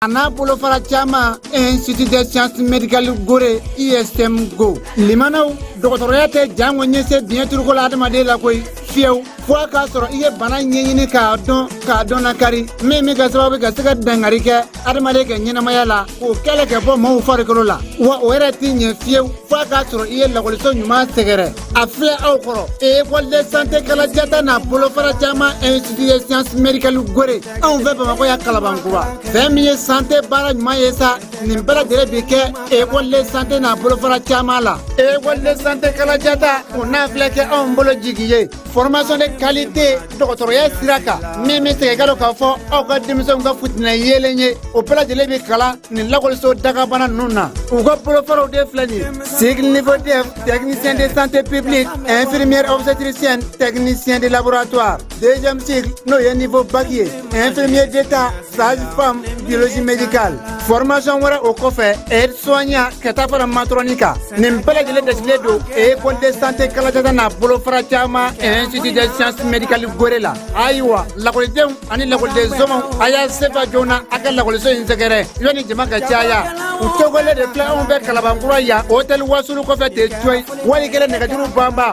a n'a bolofara caman institut de science médicale gore ism go limanaw dɔgɔtɔrɔya tɛ janko ɲɛse diɲɛ turuko la adamaden la koyi fiyewu fo a k'a sɔrɔ i ye bana ɲɛɲini k'a dɔn k'a dɔn na kari min bɛ ka sababu ka se ka dangari kɛ adamaden ka ɲɛnamaya la k'o kɛlɛ ka bɔ maaw farikolo la wa o yɛrɛ tɛ ɲɛ fiyewu fo a k'a sɔrɔ i ye lakɔliso ɲuman sɛgɛrɛ a filɛ aw kɔrɔ école de santé kalajata n'a bolofara caman institut de science médicale gore anw fɛ bamakɔ yan kalabankura fɛn min ye santé baara ɲuman ye sa nin bɛɛ lajɛlen bi kɛ école de santé n'a bolofara caman la école de santé kalajata o n'a filɛ kɛ anw bolo jigi ye formation de qualité dɔgɔtɔrɔya sira kan min bɛ se k'a to k'a fɔ aw ka denmisɛnw ka fitinɛ yeelen ye o bɛɛ lajɛlen bɛ kalan nin lakɔliso dagabana ninnu na u ka bolofaraw de filɛ nin ye cycle niveau def technicien de santé publique infirmière obstétricienne technicien de laboratoire deuxième cycle n'o ye niveau bac ye infirmier d'état sage femme biologie médicale formation wɛrɛ o kɔfɛ aide soignant ka taa fara matrɔni kan nin bɛɛ lajɛlen dasilen don école de santé kalajata n'a bolofara caman institut de science médicale gore la ayiwa lakɔlidenw ani lakɔliden somɔgɔw a y'a sen fa joona a ka lakɔliso in sɛgɛrɛ yanni jama ka caya u tɔgɔlen de filɛ anw fɛ kalabankura yan hôtel wasulu kɔfɛ ten coyi wali kelen nɛgɛjuru banba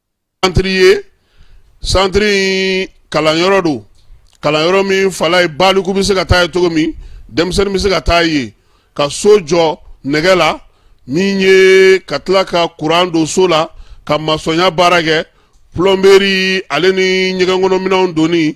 santiri ye santiri in kalanyɔrɔ don kalanyɔrɔ min fala ye baliku bɛ se ka taa yen cogo min denmisɛnnin bɛ se ka taa yen ka so jɔ nɛgɛ la min ye ka tila ka kuran don so la ka masɔnya baara kɛ pulɔnberi ale ni ɲɛgɛnkɔnɔminɛnw donni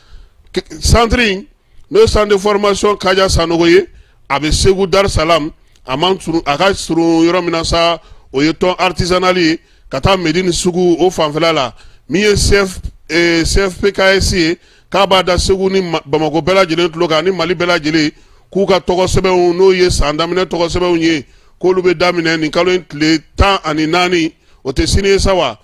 santiri n'o ye centre de formation kaja sanogo ye a bɛ segu darisalamu a ka surun yɔrɔ min na sa o ye tɔn artisanal ye ka taa medini sugu o fanfɛ la min ye cfpks ye k'a b'a da segu ni bamakɔ bɛɛ lajɛlen tulo kan ni mali bɛɛ lajɛlen k'u ka tɔgɔ sɛbɛnw n'o ye san daminɛ tɔgɔ sɛbɛnw ye k'olu bɛ daminɛ nin kalo in tile tan ani naani o tɛ sini ye sa wa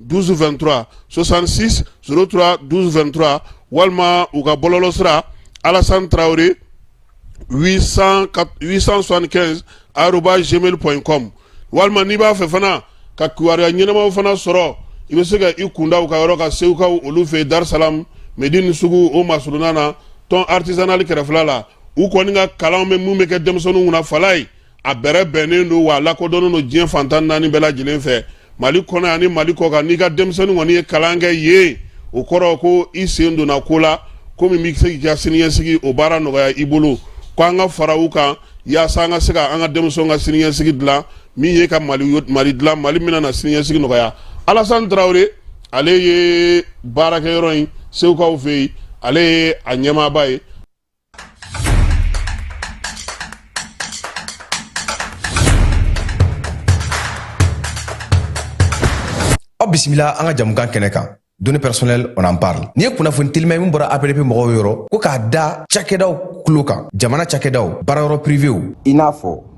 12 23 66 03 12 23 walima u ka bɔlɔlɔsira alasan tarawele 865 arobase gmail point com walima n'i b'a fɛ fana ka kibaruya ɲɛnamaw fana sɔrɔ i bɛ se ka i kun da u ka yɔrɔ kan segukaw olu fɛ darisalamu medini sugu o masurunna na tɔn artisanal kɛrɛfɛ la u kɔni ka kalan bɛ minnu bɛ kɛ denmisɛnw kunna fala ye a bɛrɛ bɛnnen don wa a lakodɔnnen don diɲɛ fan tan ni naani bɛɛ lajɛlen fɛ mali kɔnɔ ani mali kɔkan n'i ka denmisɛnnin kɔni ye kalan kɛ yen o kɔrɔ ko i sen donna ko la ko min bɛ se k'i ka siniɲɛsigi o baara nɔgɔya i bolo ko an ka fara u kan yaasa an ka se ka an ka denmisɛnw ka siniɲɛsigi dilan min ye ka mali dilan mali min na siniɲɛsigi nɔgɔya alasan tarawele ale ye baarakɛyɔrɔ in segukaw fɛ yen ale ye a ɲɛmaaba ye aw bisimila an ka jamukan kɛnɛ kan données personnelles on en parle nin ye kunnafoni teliman ye min bɔra APDP mɔgɔw yɔrɔ ko k'a da cakɛdaw tulo kan jamana cakɛdaw baarayɔrɔ privéw i n'a fɔ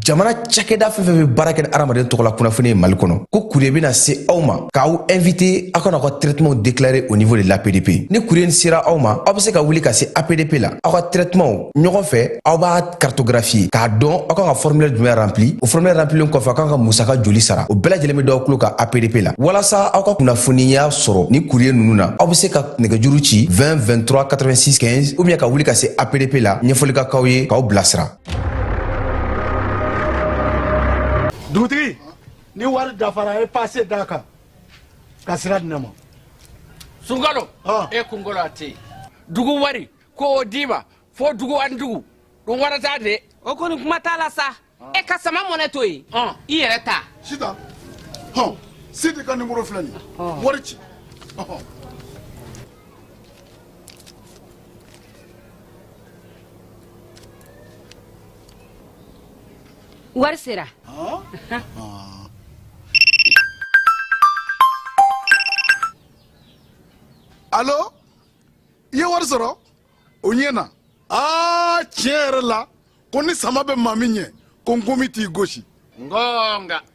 jamana cakɛda fɛn fɛn bɛ baara kɛ ni adamaden tɔgɔla kunnafoni ye mali kɔnɔ ko courrier bɛna se aw ma k'aw invité aw ka na aw ka traitement déclaré au niveau de l'APDP ni courrier in sera aw ma aw bɛ se ka wuli ka se APDP la aw ka traitement ɲɔgɔn fɛ aw b'a cartographier k'a dɔn aw kan ka formulaire jumɛn rempli o formulaire remplilen kɔfɛ aw kan ka musaka joli sara o bɛɛ lajɛlen bɛ d'aw tulo kan APDP la walasa aw ka kunnafoniya sɔrɔ ni courrier ninnu na aw bɛ se ka nɛgɛjuru ci 20 23 86 15 ou bien ka wuli ka se APDP la ɲɛfɔli ka k'aw ye k'aw bilasira dugutigi ni wari dafara a ye pase d'a kan ka sira di ne ma sunkalo e kunkolo a tɛ yen dugu wari ko o d'i ma fo dugu ani dugu don wɛrɛ t'a de o kɔni kuma t'a la sa e ka sama money to yen i yɛrɛ ta sita hɔn sidi ka nimoro filɛ nin wari ci wari sera alo i ye wari sɔrɔ o ɲɛna aa tiɲɛ yɛrɛ la ko ni sama bɛ maa min ɲɛ ko nkomi t'i gosi ngonga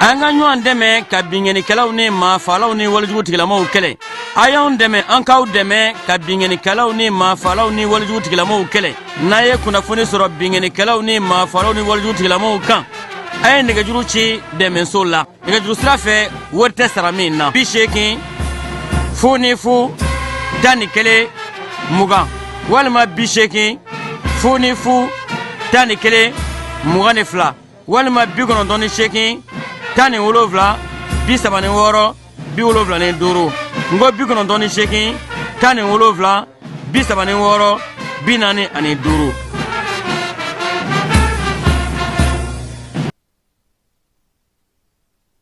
an ka ɲɔgɔn dɛmɛ ka binkɛnikɛlaw ni maafalaw ni walejugu tigilamaaw kɛlɛ a y'an dɛmɛ an k'aw dɛmɛ ka binkɛnikɛlaw ni maafalaw ni walejugu tigilamaaw kɛlɛ n'a ye kunnafoni sɔrɔ binkɛnikɛlaw ni maafalaw ni walejugu tigilamaaw kan a ye nɛgɛjuru ci dɛmɛso la nɛgɛjuru sira fɛ wari tɛ sara min na bi seegin fu ni fu tan ni kelen mugan walima bi seegin fu ni fu tan ni kelen mugan ni fila walima bi kɔnɔntɔn ni seegin tan ni wolonfila bi saba ni wɔɔrɔ bi wolonfila ni duuru n ko bi kɔnɔntɔn ni seegin tan ni wolonfila bi saba ni wɔɔrɔ bi naani ani duuru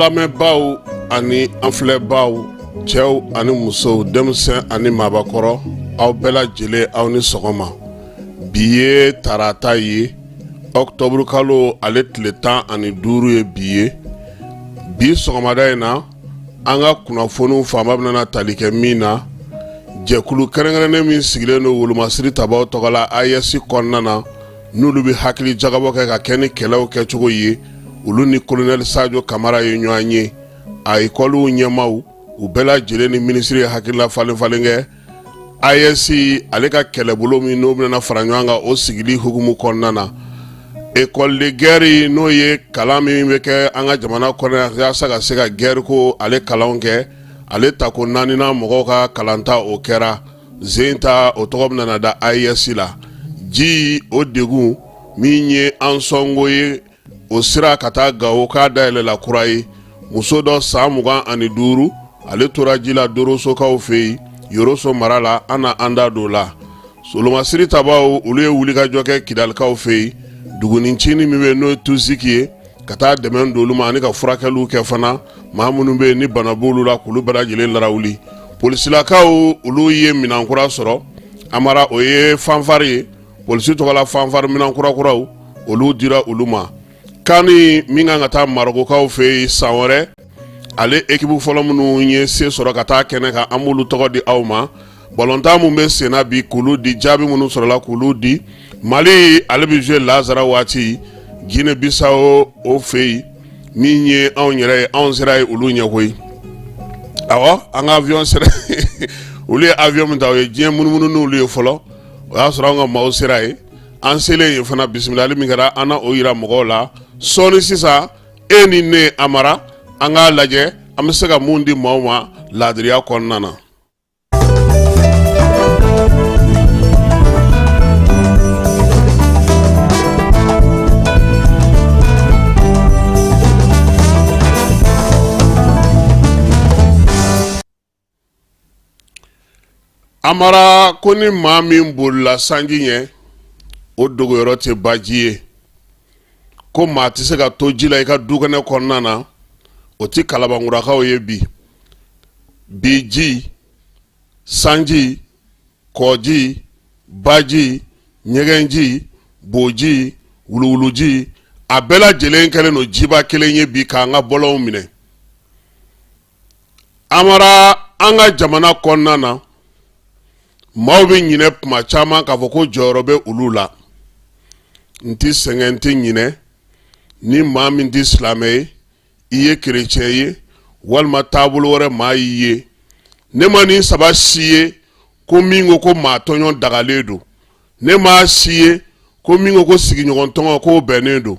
lamɛnbaaw ani an filɛbaaw cɛw ani musow denmisɛn ani maabakɔrɔ aw bɛɛ lajɛlen aw ni sɔgɔma bi ye tarata ye ɔkutɔburu kalo ale tile tan ani duuru ye bi ye bi sɔgɔmada in na an ka kunnafoniw fanba bɛna tali kɛ min na jɛkulu kɛrɛnkɛrɛnnen min sigilen don wolomasiri tabaw tɔgɔ la AES kɔnɔna na n'olu bɛ hakili jagabɔ kɛ ka kɛ ni kɛlɛw kɛcogo ye olu ni kolonɛli sajo kamara ye ɲɔgɔn ye a ekɔliw ɲɛmaaw u bɛɛ lajɛlen ni minisiri ye hakilila falenfalen kɛ AES ale ka kɛlɛbolo min n'o bɛna fara ɲɔgɔn kan o sigili hukumu kɔnɔna na ekɔli de gɛri n'o ye kalan min bɛ kɛ an ka jamana kɔnɔ yaasa ka se ka gɛri ko ale kalan kɛ ale tako naaninan mɔgɔw ka kalan ta o kɛra zen ta o tɔgɔ bɛna da AES la ji o degun min ye ansɔngo ye o sira ka taa gawo k'a dayɛlɛla kura ye muso dɔ san mugan ani duuru ale tora ji la dorosokaw fɛ yen yoroso mara la an na an da don la solomasiri tabaw olu ye wulikajɔ kɛ kidalikaw fɛ yen dugunin cinin min bɛ n'o ye tusiki ye ka taa dɛmɛ don olu ma ani ka furakɛliw kɛ fana maa minnu bɛ yen ni bana b'olu la k'olu bɛɛ lajɛlen larawuli polisilakaw olu ye minan kura sɔrɔ Amara o ye fanfari ye polisi tɔgɔla fanfari minan kurakuraw olu dira olu ma kani min kan ka taa marokokaw fɛ yen san wɛrɛ ale ekipu fɔlɔ minnu ye se sɔrɔ ka taa kɛnɛ kan an b'olu tɔgɔ di aw ma balɔntan minnu bɛ senna bi k'olu di jaabi minnu sɔrɔla k'olu di mali ale bɛ zuwe lasara waati jinɛ bisawo o fɛ yen min ye anw yɛrɛ ye anw sera yen olu ɲɛ koyi ɔ an ka aviyɔn sera olu ye aviyɔn min ta o ye diɲɛ munumunu n'olu ye fɔlɔ o y'a sɔrɔ an ka maaw sera yen an selen yen fana bisimilali min kɛra an na o jira mɔgɔw la sɔɔni sisan e ni ne Amara an k'a lajɛ an bɛ se ka mun di maaw ma laadiriya kɔnɔna na Amara ko ni maa min bolila sanji ɲɛ o dogoyɔrɔ tɛ baji ye ko maa tɛ se ka to ji la i ka dukɛnɛ kɔnɔna na o tɛ kalabankurakaw ye bi bi ji sanji kɔji baji ɲɛgɛnji boji wuluwuluji a bɛɛ lajɛlen kɛlen don jiba kelen ye bi k'an ka bɔlɔnw minɛ Amara an ka jamana kɔnɔna na maaw bɛ ɲinɛ tuma caman k'a fɔ ko jɔyɔrɔ bɛ olu la n tɛ sɛgɛn n tɛ ɲinɛ ni maa min tɛ silamɛ ye i ye kerecɛn ye walima taabolo wɛrɛ maa y'i ye ne ma nin saba si ye ko min ko ko maa tɔɲɔ dagalen don ne m'a si ye ko min ko ko sigiɲɔgɔn tɔɲɔ k'o bɛnnen don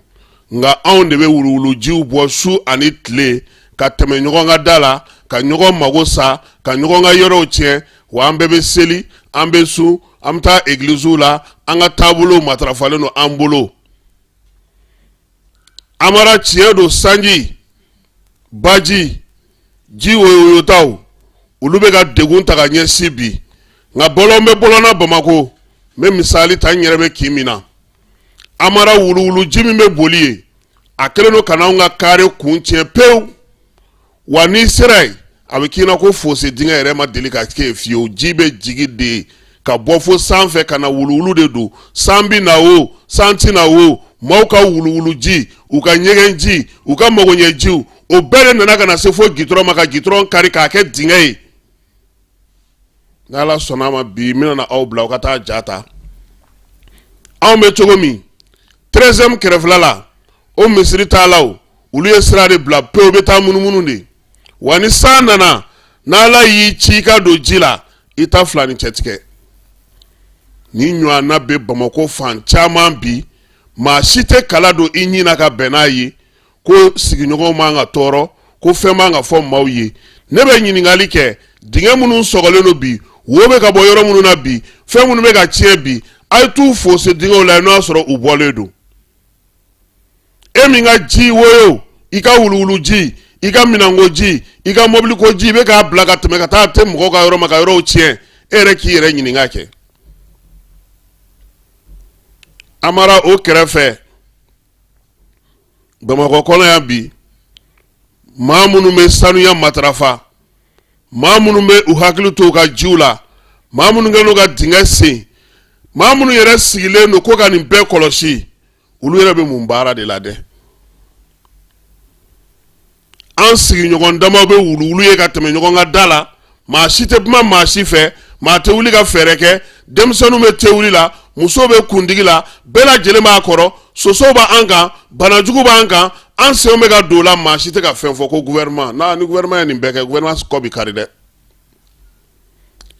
nka anw de bɛ wuluwulujiw bɔ su ani tile ka tɛmɛ ɲɔgɔn ka da la ka ɲɔgɔn mago sa ka ɲɔgɔn ka yɔrɔw tiɲɛ wa an bɛɛ bɛ seli an bɛ sun an bɛ taa egiliziw la an ka taabolow matarafalen don an bolo amara tiɲɛ don sanji baji ji woyotaw olu bɛ ka degun ta ka ɲɛsin bi nka bɔlɔn bɛ bɔlɔn na bamakɔ n bɛ misali ta n yɛrɛ bɛ kin min na amara wuluwulu ji min bɛ boli ye a kɛlen don ka n'anw ka kare kun tiɲɛ pewu wa n'i sera yen a bɛ k'i na ko fosi dingɛ yɛrɛ ma deli ka kɛ fiyewu ji bɛ jigi de ka bɔ fo sanfɛ ka na wuluwulu de don san bɛ na o san tɛ na o maaw ka wuluwulu ji u ka ɲɛgɛn ji u ka magoɲɛ jiw o bɛɛ de nana ka na se fo gitɔrɔn ma ka gitɔrɔn kari k'a kɛ dingɛ ye n'ala sɔnna a ma bi n bɛna aw bila aw ka taa ja ta anw bɛ cogo min tɛrɛzɛmu kɛrɛfɛla la o misiri taalaw olu ye sira de bila pewu u bɛ taa munumunu de wa ni san nana n'ala y'i ci i ka don ji la i ta fila ni cɛtigɛ nin ɲɔgɔnna bɛ bamakɔ fan caman bi maa si tɛ kala don i ɲin na ka bɛn n'a ye ko sigiɲɔgɔnw man ka tɔɔrɔ ko fɛn man ka fɔ maaw ye ne bɛ ɲininkali kɛ dingɛ minnu sɔgɔlen don bi wo bɛ ka bɔ yɔrɔ minnu na bi fɛn minnu bɛ ka tiɲɛ bi a ye t'u fosi dingɛw la n'o y'a sɔrɔ u bɔlen don e min ka ji woyo i ka wuluwulu ji i ka minɛnko ji i ka mɔbiliko ji i bɛ k'a bila ka tɛmɛ ka taa tɛ mɔgɔw ka yɔrɔ ma ka yɔrɔw tiɲɛ e yɛrɛ k'i yɛrɛ ɲininka kɛ amara o kɛrɛfɛ bamakɔ kɔnɔ yan bi maa minnu bɛ sanuya matarafa maa minnu bɛ u hakili to u ka jiw la maa minnu kɛlen ka dingɛ sen maa minnu yɛrɛ sigilen don ko ka nin bɛɛ kɔlɔsi olu yɛrɛ bɛ mun baara de la dɛ an sigiɲɔgɔn dama bɛ wuluwulu ye ka tɛmɛ ɲɔgɔn ka da la maa si tɛ kuma maa si fɛ maa tɛ wuli ka fɛɛrɛ kɛ denmisɛnninw bɛ te wuli la musow bɛ kundigi la bɛɛ lajɛlen b'a kɔrɔ sosow b'an kan banajugu b'an kan an senw bɛ ka don o la maa si tɛ ka fɛn fɔ ko gouvernement na ni gouvernement ye nin bɛɛ kɛ gouvernement kɔ bɛ kari dɛ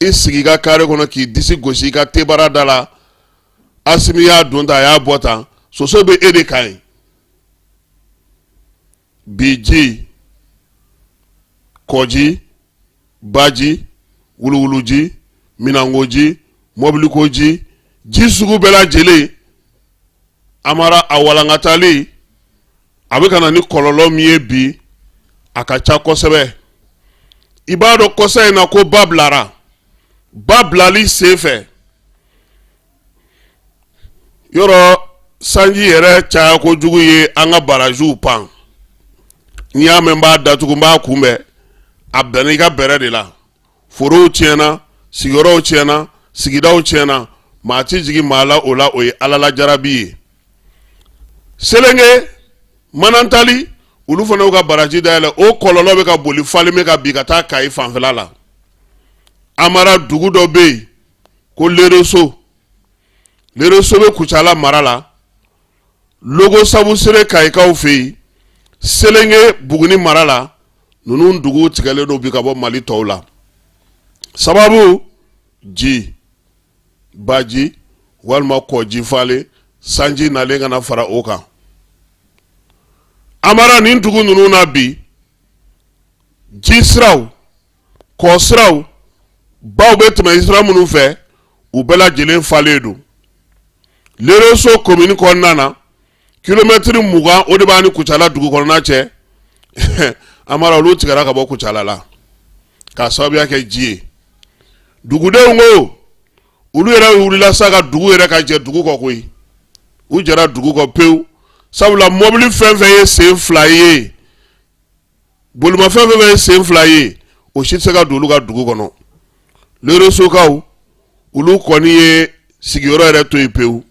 i sigi i ka carré kɔnɔ k'i disi gosi i ka tebara da la Asimi y'a don tan a y'a bɔ tan soso bɛ e de kan yen bi ji kɔji baji wuluwuluji minɛnkoji mɔbilikoji ji sugu bɛɛ lajɛlen amara a walankatali a bɛ ka na ni kɔlɔlɔ min ye bi a ka ca kosɛbɛ i b'a dɔn kɔsa in na ko ba bilara ba bilali senfɛ yɔrɔ sanji yɛrɛ caya kojugu ye an ka barajiw pan n'i y'a mɛn n b'a datugu n b'a kunbɛn a bɛnna i ka bɛrɛ de la forow tiɲɛna sigiyɔrɔw tiɲɛna sigidaw tiɲɛna maa ti jigi maa la o la o ye ala la jarabi ye selenge manantali olu fana y'u ka baraji dayɛlɛ o kɔlɔlɔ bɛ ka boli falen bɛ ka bi ka taa kayi fanfɛla la amara dugu dɔ bɛ yen ko lereso lereso bɛ kucala mara la logo sabusire kayikaw fɛ yen selenge buguni mara la ninnu duguw tigɛlen don bi ka bɔ mali tɔw la sababu ji baji walima kɔji falen sanji nalen kana fara o kan amara nin dugu ninnu na bi ji siraw kɔ siraw baw bɛ tɛmɛ sira minnu fɛ u bɛɛ lajɛlen falen don lereso komini kɔnɔna na kilomɛtiri mugan o de b'a ni kucala dugu kɔnɔna cɛ amara olu tigɛra ka bɔ kucala la k'a sababuya kɛ ji ye dugudenw ko olu yɛrɛ wulila sa ka dugu yɛrɛ ka jɛ dugu kɔ koyi u jɛra dugu kɔ pewu sabula mɔbili fɛn fɛn ye sen fila ye Bolimafɛn fɛn fɛn ye sen fila ye o si tɛ se ka don olu ka dugu kɔnɔ leresokaw olu kɔni ye sigiyɔrɔ yɛrɛ to yen pewu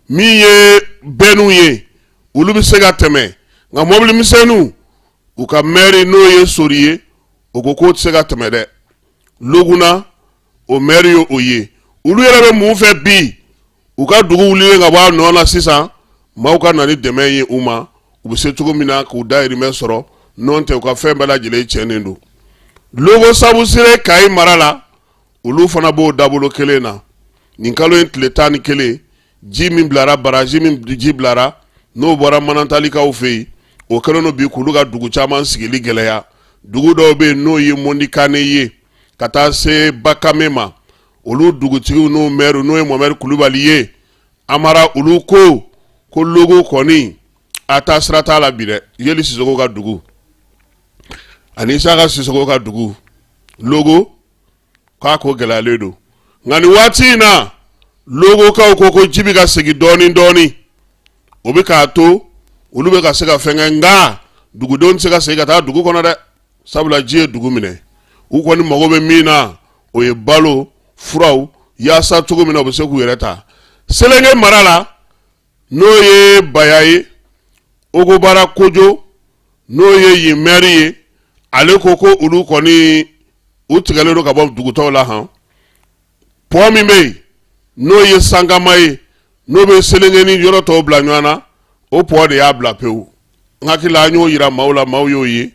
min ye bɛnniw ye olu bɛ se ka tɛmɛ nka mɔbili misɛnninw u ka mɛri n'o ye sori ye o ko k'o tɛ se ka tɛmɛ dɛ loguna o mɛri ye o ye olu yɛrɛ bɛ mun fɛ bi u ka dugu wulilen ka bɔ a nɔ na sisan maaw ka na ni dɛmɛ ye u ma u bɛ se cogo min na k'u dayirimɛ sɔrɔ n'o tɛ u ka fɛn bɛɛ lajɛlen tiɲɛnen don logo sabusire kayi mara la olu fana b'o dabolo kelen na nin kalo in tile tan ni kelen ji min bilara baraji min ji bilara n'o bɔra manantalikaw fɛ yen o kɛlen don bi k'olu ka dugu caman sigili gɛlɛya dugu dɔw bɛ yen n'o ye mɔndikane ye ka taa se bakame ma olu dugutigiw n'o mɛri n'o ye mohamɛdi kulubali ye amara olu ko ko logo kɔni a taa sira t'a la bi dɛ yeli sisoko ka dugu ani isaka sisoko ka dugu logo ka ko gɛlɛyalen don nka nin waati in na logokaw ko ko ji bɛ ka segin dɔɔnin dɔɔnin o bɛ k'a to olu bɛ ka se ka fɛn kɛ nka dugudenw tɛ se ka segin ka taa dugu kɔnɔ dɛ sabula ji ye dugu minɛ u kɔni mago bɛ min na o ye balo furaw yaasa cogo min na u bɛ se k'u yɛrɛ ta selenge mara la n'o ye baya ye ogobara kojo n'o ye yen mɛri ye ale ko ko olu kɔni u tigɛlen don ka bɔ dugu tɔw la hɔn pɔ min bɛ yen n'o ye sankama ye n'o bɛ selenke ni yɔrɔ tɔw bila ɲɔgɔn na o pɔ de y'a bila pewu n hakili la an y'o yira maaw la maaw y'o ye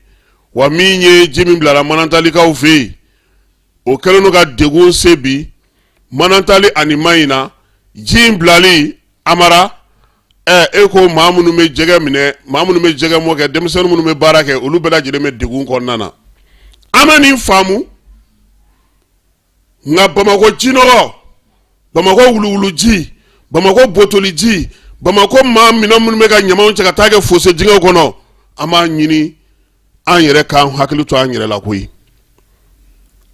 wa min ye ji min bilara manantalikaw fɛ yen o kɛlen don ka degun se bi manantali ani mahina ji in bilali amara ɛ e ko maa minnu bɛ jɛgɛ minɛ maa minnu bɛ jɛgɛ mɔ kɛ denmisɛnnin minnu bɛ baara kɛ olu bɛɛ lajɛlen bɛ degun kɔnɔna na an bɛ nin faamu nka bamakɔ jinɔgɔ bamakɔ wuluwuluji bamakɔ botoliji bamakɔ maa minɛn minnu bɛ ka ɲamanw cɛ ka taa kɛ fosse dingɛw kɔnɔ an b'a ɲini an yɛrɛ k'an hakili to an yɛrɛ la koyi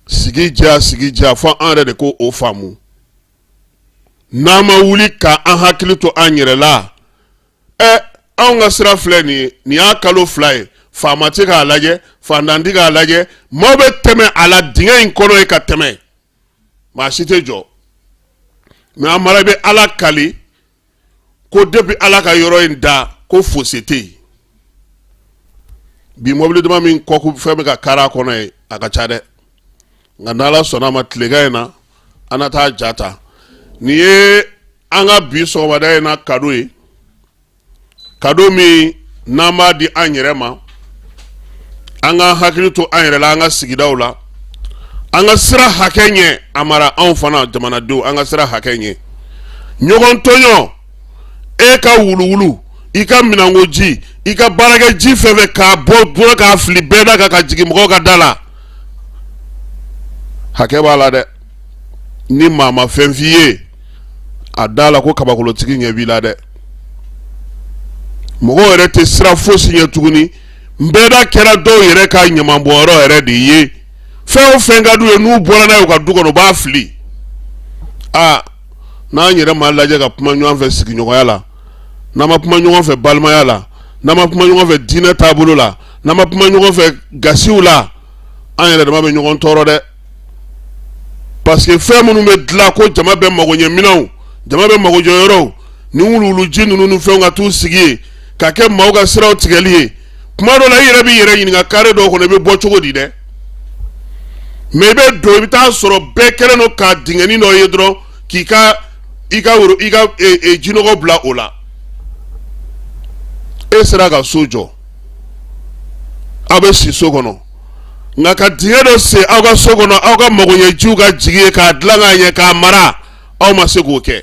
sigi diya sigi diya fo an yɛrɛ de k'o faamu n'an ma wuli ka an hakili to an yɛrɛ la ɛ anw ka sira filɛ nin ye nin y'a kalo fila ye faama tɛ k'a lajɛ fantan tɛ k'a lajɛ maaw bɛ tɛmɛ a la dingɛ in kɔnɔ ye ka tɛmɛ maa si tɛ jɔ mɛ amara bɛ ala kali ko depi ala ka yɔrɔ in da ko fosi tɛ yen bi mɔbili dama min kɔku fɛn bɛ ka kari a kɔnɔ yen a ka ca dɛ nka ni ala sɔnna a ma tilegan in na an na taa ja ta nin ye an ka bi sɔgɔmada in na kado ye kado min n'an b'a di an yɛrɛ ma an ka hakili to an yɛrɛ la an ka sigidaw la an ka siran hakɛ ɲɛ amara anw fana jamanadenw an ka siran hakɛ ɲɛ ɲɔgɔn tɔɲɔ e ka wuluwulu i ka minɛnko ji i ka baarakɛ ji fɛn o fɛn k'a bɔ bolo k'a fili bɛda kan ka jigin mɔgɔw ka da la hakɛ b'a la dɛ ni maa ma fɛn f'i ye a da la ko kabakolotigi ɲɛ b'i la dɛ mɔgɔw yɛrɛ tɛ siran fosi ɲɛ tuguni bɛda kɛra dɔw yɛrɛ ka ɲamanbɔnyɔrɔ yɛrɛ de ye fɛn o fɛn ka d'u ye n'u bɔra n'a ye u ka du kɔnɔ u b'a fili aa n'an yɛrɛ ma lajɛ ka kuma ɲɔgɔn fɛ sigiɲɔgɔnya la n'an ma kuma ɲɔgɔn fɛ balimaya la n'an ma kuma ɲɔgɔn fɛ diinɛ taabolo la n'an ma kuma ɲɔgɔn fɛ gasiw la an yɛrɛ dama bɛ ɲɔgɔn tɔɔrɔ dɛ parce que fɛn minnu bɛ dilan ko jama bɛɛ magoɲɛ minɛnw jama bɛɛ magojɔ yɔrɔw ni wuluwuluji ninnu ni fɛnw ka t'u sigi yen ka kɛ maaw ka siraw tigɛli ye kuma dɔ la i yɛrɛ b'i yɛrɛ ɲininka kare dɔw kɔnɔ i bɛ bɔ cogo di dɛ mɛ i bɛ don i bɛ taa sɔrɔ bɛɛ kɛlen don ka dingɛnin dɔ ye dɔrɔn k'i ka i ka wulu i ka e, e, jinɔgɔ bila o la e sera ka so jɔ aw bɛ si so kɔnɔ nka ka dingɛ dɔ sen aw ka so kɔnɔ aw ka magoɲɛjiw ka jigin yen k'a dilan k'a ɲɛ k'a mara aw ma se k'o kɛ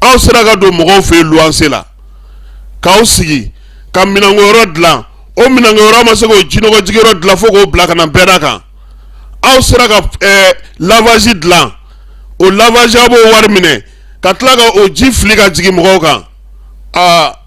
aw sera ka don mɔgɔw fɛ yen luwanse la k'aw sigi ka minɛnkoyɔrɔ dilan o minɛnkoyɔrɔ aw ma se k'o jinɔgɔjigiyɔrɔ dilan fo k'o bila ka na bɛɛda kan aw sera ka ɛɛ lavazi dilan o lavazi aw b'o wari minɛ ka tila ka o ji fili ka jigin mɔgɔw kan aa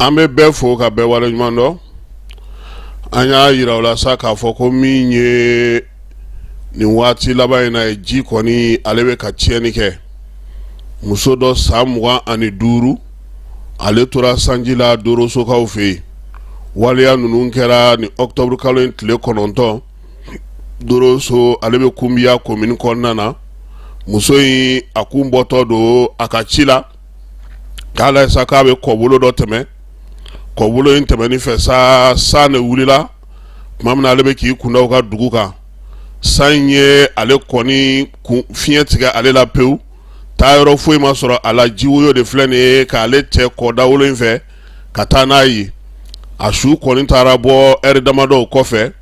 an bɛ bɛɛ fo ka bɛɛ waleɲuman dɔn an y'a jira aw la sa k'a fɔ ko min ye nin waati laban in na ye ji kɔni ale bɛ ka tiɲɛni kɛ muso dɔ san mugan ani duuru ale tora sanji la dorosokaw fɛ yen waleya ninnu kɛra nin ɔkutɔburukalo in tile kɔnɔntɔn doroso ale bɛ kunbiya komini kɔnɔna na muso in a kun bɔtɔ don a ka ci la k'a lajɛ sa k'a bɛ kɔbolo dɔ tɛmɛ kɔbolo in tɛmɛni fɛ sa san de wulila tuma min na ale bɛ k'i kunda u ka dugu kan san in ye ale kɔni fiɲɛ tigɛ ale la pewu taayɔrɔ foyi ma sɔrɔ a la jiwoyo de filɛ nin ye k'ale cɛ kɔda wolo in fɛ ka taa n'a ye a su kɔni taara bɔ ɛri damadɔw kɔfɛ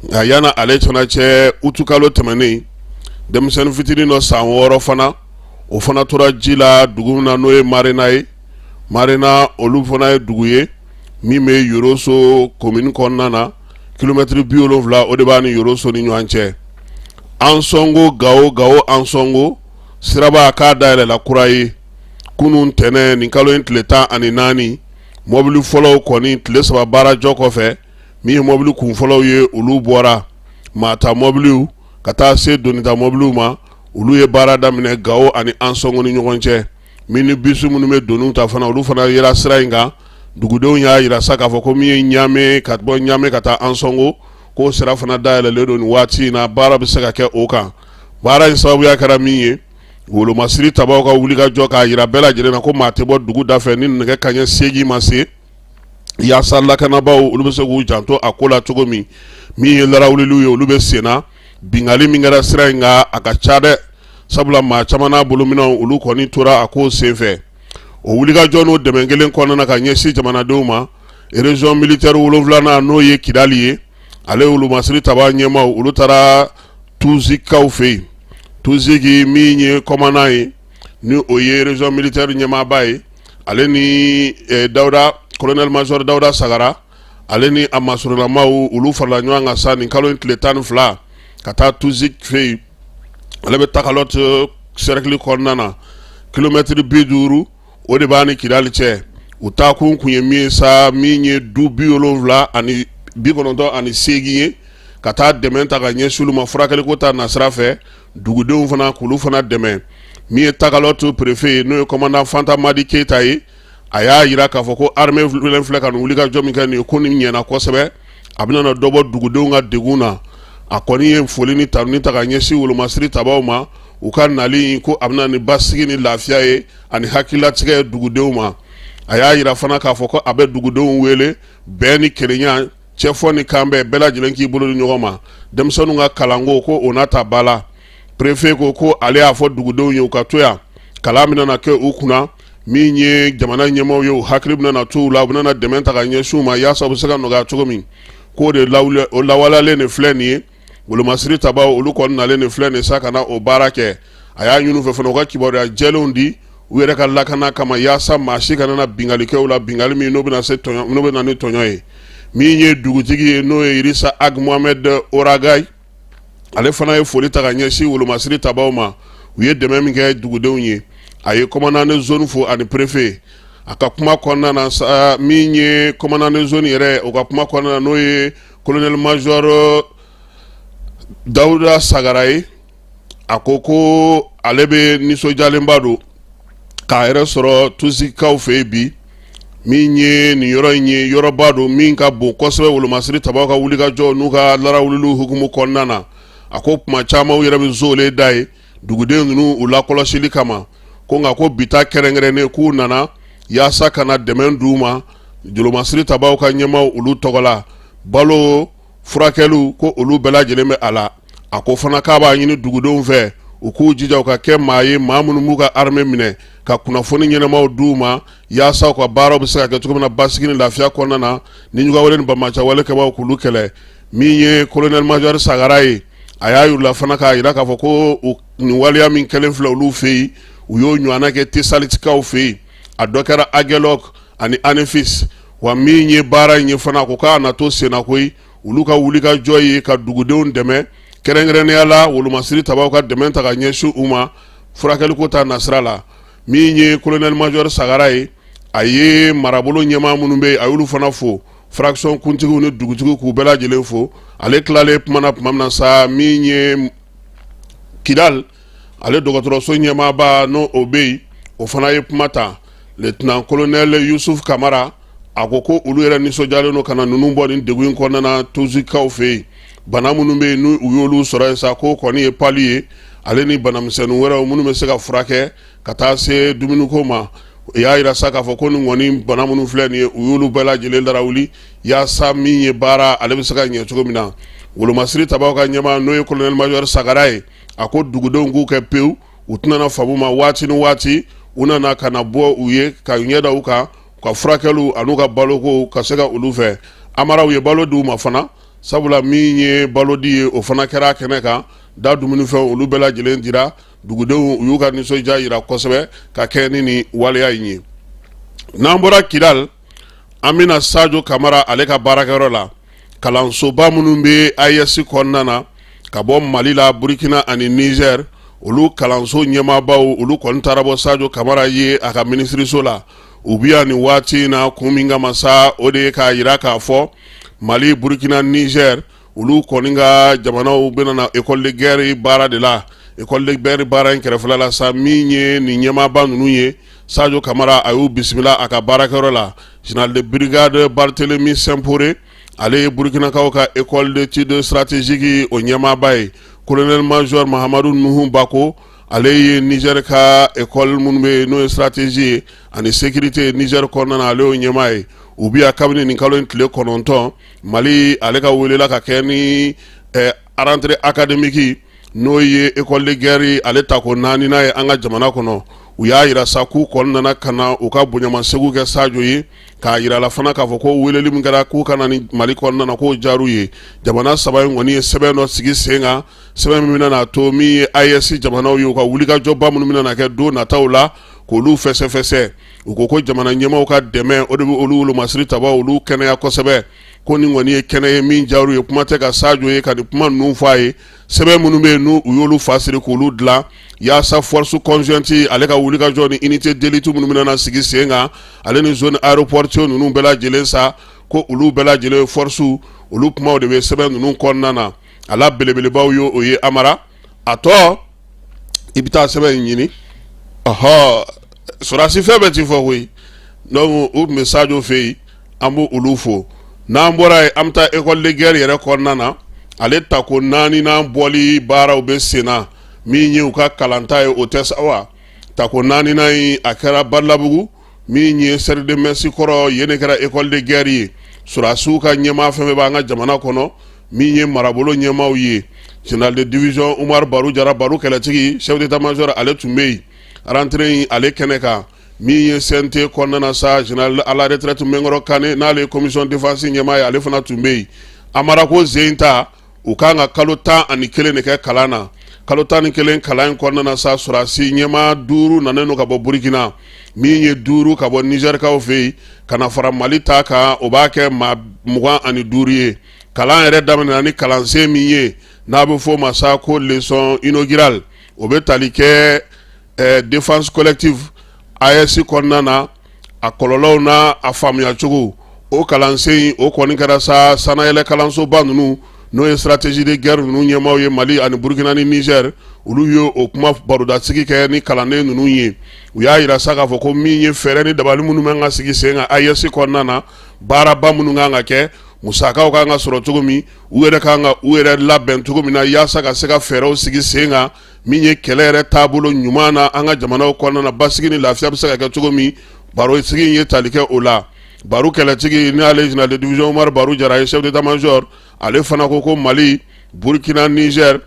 nka yanni ale fana cɛ utukalo tɛmɛnen denmisɛnnin fitinin dɔ san wɔɔrɔ fana o fana tora ji la dugu min na n'o ye marina ye marina olu fana ye dugu ye min bɛ yɔrɔso komin kɔnɔna na kilomɛtiri bi wolonwula o de b'a ni yɔrɔso ni ɲɔgɔn cɛ ansɔngo gawo gawo ansɔngo siraba k'a dayɛlɛla kura ye kunun tɛnɛ nin kalo in tile tan ani naani mɔbili fɔlɔw kɔni tile saba baara jɔ kɔfɛ min ye mɔbili kunfɔlɔw ye olu bɔra maa ta mɔbiliw ka taa se donita mɔbiliw ma olu ye baara daminɛ gawo ani ansɔngo ni ɲɔgɔn cɛ minibisu minnu bɛ doni ta fana olu fana yera sira in kan dugudenw y'a jira sa k'a fɔ ko min ye ɲamɛ ka bɔ ɲamɛ ka taa ansɔngo k'o sira fana dayɛlɛlen don nin waati in na baara bɛ se ka kɛ o kan baara in sababuya kɛra min ye wolomasiri tabaw ka wulikajɔ k'a jira bɛɛ lajɛlen na ko maa tɛ bɔ dugu da fɛ ni nɛgɛ kanɲɛ seegin ma se yaasa lakanabaaw olu bɛ se k'u janto a ko la cogo min min ye larawuliw ye olu bɛ senna bingali min kɛra sira in kan a ka ca dɛ sabula maa caman n'a bolominɛnw olu kɔni tora a ko senfɛ o wulikajɔ n'o dɛmɛ kelen kɔnɔna ka ɲɛsin jamanadenw ma erezɔn militɛri wolonwulanan n'o ye kidali ye ale wolomasiri taba ɲɛmaaw olu taara tuzikaw fɛ yen tuziki min ye kɔmandan ye ni o ye erezɔn militɛri ɲɛmaaba ye ale ni eh, dawuda kolonɛli mazɔri dawuda sagara ale ni a masurulamaw olu farala ɲɔgɔn kan sa nin kalo in tile tan ni fila ka taa tusik fɛ yen ale bɛ takalɔti sɛrɛkili kɔnɔna na kilomɛtiri bi duuru o de b'a ni kidali cɛ u taa kun kun ye min ye sa min ye du bi wolonwula ani bi kɔnɔntɔn ani seegin ye ka taa dɛmɛ ta ka ɲɛsin olu ma furakɛliko ta nasira fɛ dugudenw fana k'olu fana dɛmɛ min ye takalɔti perefe ye n'o ye kɔmandan fanta madi keyita ye a y'a jira k'a fɔ ko armée len filɛ ka nin wulikajɔ min kɛ nin ye ko nin ɲɛna kosɛbɛ a bɛna dɔ bɔ dugudenw ka degun na a kɔni ye foli ni tanuni ta ka ɲɛsin wolomasiri tabaw ma u ka nali ko a bɛna ni basigi ni lafiya ye ani hakililatigɛ ye dugudenw ma a y'a jira fana k'a fɔ ko a bɛ dugudenw wele bɛn ni kelenya cɛfɔ ni kanbɛn bɛɛ lajɛlen k'i bolo di ɲɔgɔn ma denmisɛnninw ka kalanko ko o na ta ba la prefe ko ko ale y'a fɔ dugudenw ye u ka to yan kalan bɛna kɛ u kunna min ye jamana ɲɛmaaw ye u hakili bɛna to u la u bɛna dɛmɛ ta ka ɲɛsin u ma yaasa u bɛ se ka nɔgɔya cogo min k'o de lawaleyalen nin filɛ nin ye wolomasiri tabaw olu kɔni nalen nin filɛ nin sa ka na o baara kɛ a y'a ɲini u fɛ fana u ka kibaruya jɛlenw di u yɛrɛ ka lakana kama yaasa maa si kana na binkali kɛ u la binkali min n'o bɛna ni tɔɲɔ ye min ye dugutigi ye n'o ye irisa ag mohamed oragay ale fana ye foli ta ka ɲɛsin wolomasiri tabaw ma u ye dɛmɛ min kɛ dugudenw ye a ye kɔmandan de zoni fo ani perefe a ka kuma kɔnɔna na sa min ye kɔmandan de zoni yɛrɛ o ka kuma kɔnɔna na n'o ye kolonɛli mazɔri dawuda sagara ye a ko ko ale bɛ nisɔndiyalenba don k'a yɛrɛ sɔrɔ tusikaw fɛ yen bi min ye nin yɔrɔ in ye yɔrɔba don min ka bon kosɛbɛ wolomasiri tabaw ka wulikajɔ n'u ka larawulilu hukumu kɔnɔna na a ko tuma caman u yɛrɛ bɛ zoolen da ye dugudenw ninnu u lakɔlɔsili kama ko nka ko bi ta kɛrɛnkɛrɛnnen k'u nana yaasa ka na dɛmɛ di u ma wolomasiri tabaw ka ɲɛmaw olu tɔgɔ la balo furakɛliw ko olu bɛɛ lajɛlen bɛ a la a ko fana k'a b'a ɲini dugudenw fɛ u k'u jija u ka kɛ maa ye maa minnu b'u ka armée minɛ ka kunnafoni ɲɛnamaw d'u ma yaasa u ka baaraw bɛ se ka kɛ cogo min na basigi ni lafiya kɔnɔna na ni juguyawale ni banbaanciyawale kɛbaaw k'olu kɛlɛ min ye colonel major sagara ye a y'a yir'u la fana k'a jira k'a fɔ ko nin waleya min kɛlen filɛ olu fɛ yen u y'o ɲɔgɔnna kɛ tesalitikaw fɛ yen a dɔ kɛra agɛlɔk ani anefis wa min ye baara in ye fana a ko k'a na to senna koyi olu ka wulikajɔ ye ka dugudenw dɛmɛ kɛrɛnkɛrɛnnenya la wolomasiri tabaw ka dɛmɛ ta ka ɲɛsin u ma furakɛliko ta nasira la min ye colonel major sagara ye a ye marabolo ɲɛmaa minnu bɛ yen a y'olu fana fo fraction kuntigiw ni dugutigiw k'u bɛɛ lajɛlen fo ale tilalen kuma na tuma min na sa min ye kidal ale dɔgɔtɔrɔso ɲɛmaaba n'o o bɛ yen o fana ye kuma ta lieutenant colonel yusufu kamara a ko ko olu yɛrɛ nisɔndiyalen don ka na ninnu bɔ nin degun in kɔnɔna na tuzikaw fɛ yen bana minnu bɛ yen n' u y'olu sɔrɔ yen sa ko kɔni ye pali ye ale ni banamisɛnnin wɛrɛ minnu bɛ se ka furakɛ ka taa se dumuniko ma u y'a jira sa k'a fɔ ko nin kɔni bana minnu filɛ nin ye u y'olu bɛɛ lajɛlen larawuli yaasa min ye baara ale bɛ se ka ɲɛ cogo min na wolomasiri tabaw ka ɲɛmaa n'o ye colonel major sagara ye a ko dugudenw k'u kɛ pewu u tɛna fama u ma waati ni waati u nana ka na bɔ u ye ka ɲɛda u kan u ka furakɛliw ani u ka balokow ka se ka olu fɛ amara u ye balo di u ma fana sabula min ye balo di ye o fana kɛra kɛnɛ kan da dumunifɛn olu bɛɛ lajɛlen dira dugudenw u y'u ka nisɔndiya jira kosɛbɛ ka kɛ ni nin waleya in ye n'an bɔra kidali an bɛ na sajo kamara ale ka baarakɛyɔrɔ la kalansoba minnu bɛ AES kɔnɔna na ka bɔ mali la burukina ani nizɛri olu kalanso ɲɛmaabaw olu kɔni taara bɔ sajo kamara ye a ka minisiririso la u bɛ yan nin waati in na kun min kama sa o de ye k'a jira k'a fɔ mali burukina nizɛri olu kɔni ka jamanaw bɛna na école de guerre baara de la école de guerre baara in kɛrɛfɛla la sa min ye nin ɲɛmaaba ninnu ye Sajo kamara a y'u bisimila a ka baarakɛyɔrɔ la général de brigade Barthélemy Simporé ale ye burukinakaw ka école d'études stratégiques o ɲɛmaaba ye colonel major mahamadu nuhu bako ale ye nizɛri ka ekɔli minnu bɛ yen n'o ye stratégie ye ani sécurité nizɛri kɔnɔna na ale y'o ɲɛmaa ye u bɛ yan kabini nin kalo in tile kɔnɔntɔn mali ale ka wele la ka kɛ ni rentrée académique n'o ye école de guerre ale ta ko naaninan ye an ka jamana kɔnɔ u y'a jira sa k'u kɔni nana ka na u ka bonyamasegu kɛ sajo ye k'a jira la fana k'a fɔ ko weleli min kɛra k'u ka na nin mali kɔnɔna na k'o diyar'u ye jamana saba in kɔni ye sɛbɛn dɔ sigi sen kan sɛbɛn min bɛna a to min ye AES jamanaw ye u ka wulikajɔba minnu bɛna kɛ don nataw la k'olu fɛsɛfɛsɛ u ko ko jamana ɲɛmaaw ka dɛmɛ o de bɛ olu wolomasiri tabaw olu kɛnɛya kosɛbɛ ko nin kɔni ye kɛnɛ ye min diyar'u ye kuma tɛ ka sajo ye ka nin kuma ninnu fɔ a ye sɛbɛn minnu bɛ yen n' u y'olu fa siri k'olu dilan yaasa force conjointe ale ka wulikajɔ ni unité d'élite minnu bɛna sigi sen kan ale ni zone aéroportuaire ninnu bɛɛ lajɛlen sa ko olu bɛɛ lajɛlen fɔrɔsiw olu kumaw de bɛ sɛbɛn ninnu kɔnɔna na a la belebelebaw ye o ye amara a tɔ i bɛ taa sɛbɛn in ɲini ɔhɔ sɔrɔdasi fɛn bɛɛ tɛ fɔ koyi donc u tun bɛ sajo fɛ yen an b' olu fo n'an bɔra yen an bɛ taa école de guerre yɛrɛ kɔnɔna na ale ta ko naaninan bɔli baaraw bɛ sen na min ye u ka kalanta ye o tɛ sa wa ta ko naaninan in a kɛra badalabugu min ye cercle de mess kɔrɔ yen de kɛra école de guerre ye sɔrɔdasiw ka ɲɛmaa fɛn bɛɛ b'an ka jamana kɔnɔ min ye marabolo ɲɛmaaw ye général de division umaru baru jara baru kɛlɛtigi chef d'état-major ale tun bɛ yen rentrée in ale kɛnɛ kan min ye CNT kɔnɔna na sa général à la retraite Minkɔrɔ Kane n'ale ye commission défense ɲɛmaa ye ale fana tun bɛ yen Amara ko zen ta u kan ka kalo tan ani kelen de kɛ kalan na kalo tan ni kelen kalan in kɔnɔna na sa sɔrɔdasi ɲɛmaa duuru nanen don ka bɔ Burikina min ye duuru ka bɔ Nizɛrikaw fɛ yen ka na fara Mali ta kan o b'a kɛ maa mugan ani duuru ye kalan yɛrɛ daminɛna ni kalansen min ye n'a bɛ f'o ma sa ko leçon inaugurale o bɛ tali kɛ ɛɛ défense collective AES kɔnɔna na a kɔlɔlɔw n'a a faamuyacogo o kalansen o kɔni kɛra sa sanayɛlɛ kalansoba ninnu n'o ye stratégie de guerre ninnu ɲɛmaaw ye Mali ani Burkina ni Niger olu ye o kuma barodasigi kɛ ni kalanden ninnu ye u y'a yira sa k'a fɔ ko min ye fɛɛrɛ ni dabali minnu bɛ ka sigi sen kan AES kɔnɔna na baaraba minnu kan ka kɛ musakaw kan ka sɔrɔ cogo min u yɛrɛ kan ka u yɛrɛ labɛn cogo min na yaasa ka se ka fɛɛrɛw sigi sen kan min ye kɛlɛ yɛrɛ taabolo ɲuman na an ka jamanaw kɔnɔna na basigi ni lafiya bɛ se ka kɛ cogo min baro sigi in ye tali kɛ o la Baru kɛlɛtigi n'ale général de division Umaru Baru Jara ye chef d'état-major ale fana ko ko Mali Burkina Niger